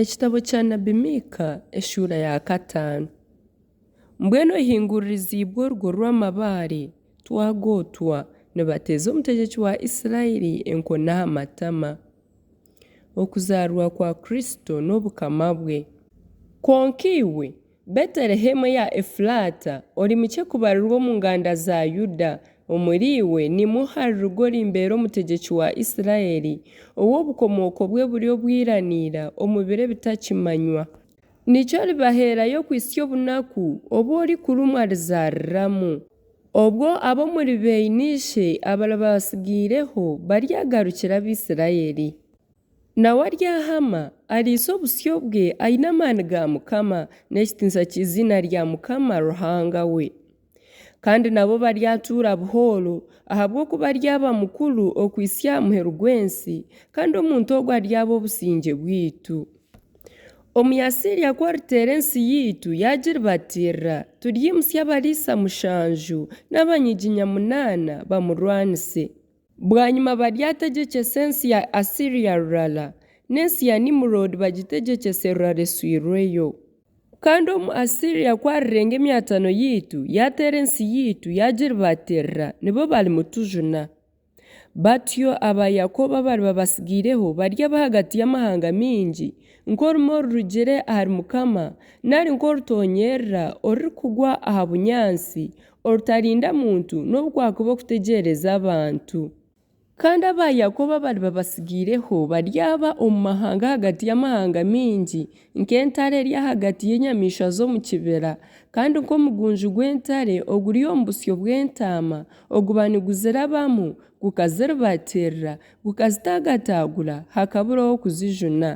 Ekitabo kya Nabbi Miika eshuura ya kataano. Mbwenu ohinguririziibwe orugo rw'amabaare, twagootwa, nibateeza omutegyeki wa Israeli enkoni aha matama. Okuzaarwa kwa Kristo n'Obukama bwe. Kwonka iwe, Betelehemu eya Efulaata, ori mukye kubarirwa omu nganda za Yuda, omuri iwe nimwo hariruga orimbeera omutegyeki wa Isiraeli, ou obukomooko bwe buri obwiraniira omu biro ebitakimanywa. Nikyo oribaheerayo kuhitsya obunaku obu orikurumwa arizaariramu. Obwo ab'omuri beine ishe abariba batsigaireho baryagarukira Abaisiraeli. Nawe aryahama, ariise obusyo bwe, aine amaani ga Mukama, n'ekitiinisa ky'eiziina rya Mukama Ruhanga we. Kandi nabo baryatuura buhooro, ahabw'okuba aryaba mukuru okuhitsya aha muheru gw'ensi, kandi omuntu ogwo aryaba obusingye bwaitu. Omuyaasiria ku ariteera ensi yaitu yaagiribatiirira, turyimutsya abariisa mushanju n'abanyiginya munaana bamurwanise. Bwanyima baryategyecesa ensi ya Asiria rurala, n'ensi ya Nimuroodi bagitegyecese rurala eswirweyo. Kandi omu Asiria ku arirenga emyatano yaitu, yaateera ensi yaitu, yaagiribaatirira, nibo barimutujuna. Batyo aba Yakooba abariba batsigaireho baryaba ahagati y'amahanga maingi, nk'orumuri orurugire ahari Mukama, nari nk'orutoonyerera orurikugwa aha bunyaatsi, Orutarinda muntu n'obu kwakuba okutegyereza abantu. Kandi aba Yakobo abariba basigaireho baryaba omu mahanga ahagati y'amahanga maingi, nk'entare eri ahagati y'enyamaishwa z'omu kibira, kandi nk'omugunju gw'entare oguri omu busyo bw'entaama oguba niguzirabamu gukaziribatiirira, gukazitaagataagura, hakabura ow'okuzijuna.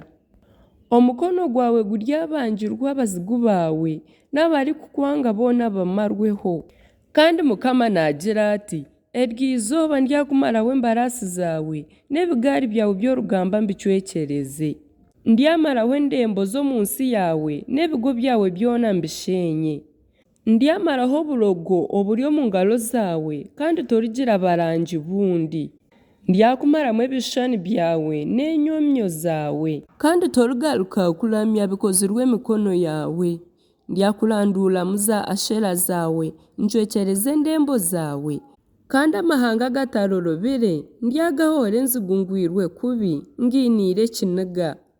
Omukono gwawe guryabangirwa abazigu baawe, n'abarikukwanga boona bamarweho. Kandi Mukama naagira ati, Eryo izooba ndyakumaraho embaraasi zaawe, n'ebigaari byawe by'orugamba mbicwekyereze. Ndyamaraho endembo z'omu nsi yaawe, n'ebigo byawe byona mbisheenye. Ndyamaraho oburogo oburi omu ngaro zaawe, kandi torigira barangi bundi. Ndyakumaramu ebishushani byawe n'enyomyo zaawe. Kandi torigaruka kuramya bikozirwe emikono yaawe. Ndyakuranduuramu za Ashera zaawe, ncwekyereze endembo zaawe. Kandi amahanga agatarorobire ndyagahoora enzigu ngwirwe kubi, ngiiniire ekiniga.